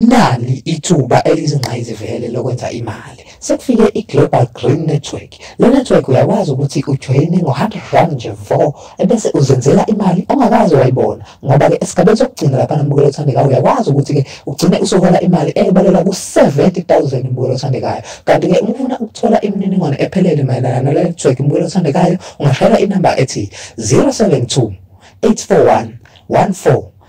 Nali ithuba elizingqayizivele lokwenza imali. Sekufike i-Global Green Network. Le network uyakwazi ukuthi ujoyine ngo-100 rand nje vo ebese uzenzela imali ongakaze wayibona ngoba-ke esigabeni sokugcina lapha nambukelo othandekayo uyakwazi ukuthi-ke ugcine usuhola imali eyebalela ku-70 000 mbukelo othandekayo kanti-ke uma ufuna ukuthola imininingwane ephelele mayelana nale network mbukelo othandekayo ungashayela inamba ethi 072 841 14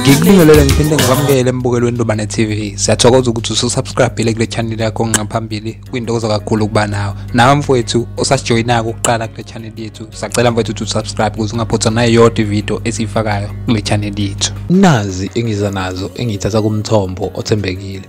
ngikubingelele ngiphinde ngikwamukele embukelweni ntobane tv siyathokoza ukuthi ususubscribile kule chaneli yakho nqaphambili kwintokozo kakhulu ukuba nawe nawe mfowethu osasijoyinako ukuqala kule chaneli yethu sacela mfowethu ukuthi usubscribe ukuze ungaphothwa nayo yodwa ividiyo esiyifakayo kule chaneli yethu nazi engiza nazo engiyithatha kumthombo othembekile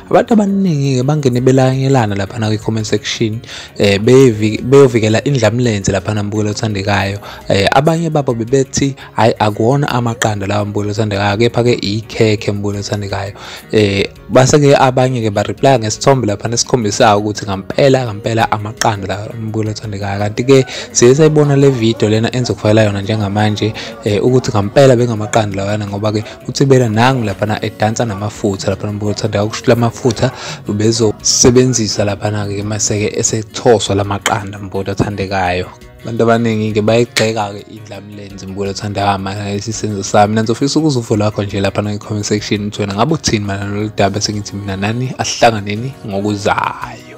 abantu abaningi-ke bangene belanyelana laphana kwi-comment section eh beyovikela indlamlenze laphana mbukelo othandekayo eh abanye babo bebethi hayi akuwona amaqanda lawa mbukelo othandekayo kepha-ke ikhekhe mbukelo othandekayo eh base-ke abanye-ke bareplya ngesithombe laphana esikhombisayo ukuthi ngampela ngampela amaqanda la mbukelo othandekayo kanti-ke siye sayibona le video lena enzokufakela yona njengamanje um ukuthi ngampela bengamaqanda lawana ngoba-ke uthibela nangu laphana edansa namafutha laphana mbuka uthanda ukushila amafutha ubezosebenzisa laphana-ke maseke esethoswa la maqanda mbuka athandekayo abantu abaningi-ke bayigxeka-ke indlamlenzi mbulo thanda mana isisenzo sami nanso fisa ukuza uvo lwakho nje laphana kwi-comment section ukuthi wena ngabe uthini mana lolu daba sengithi mina nani asihlanganeni ngokuzayo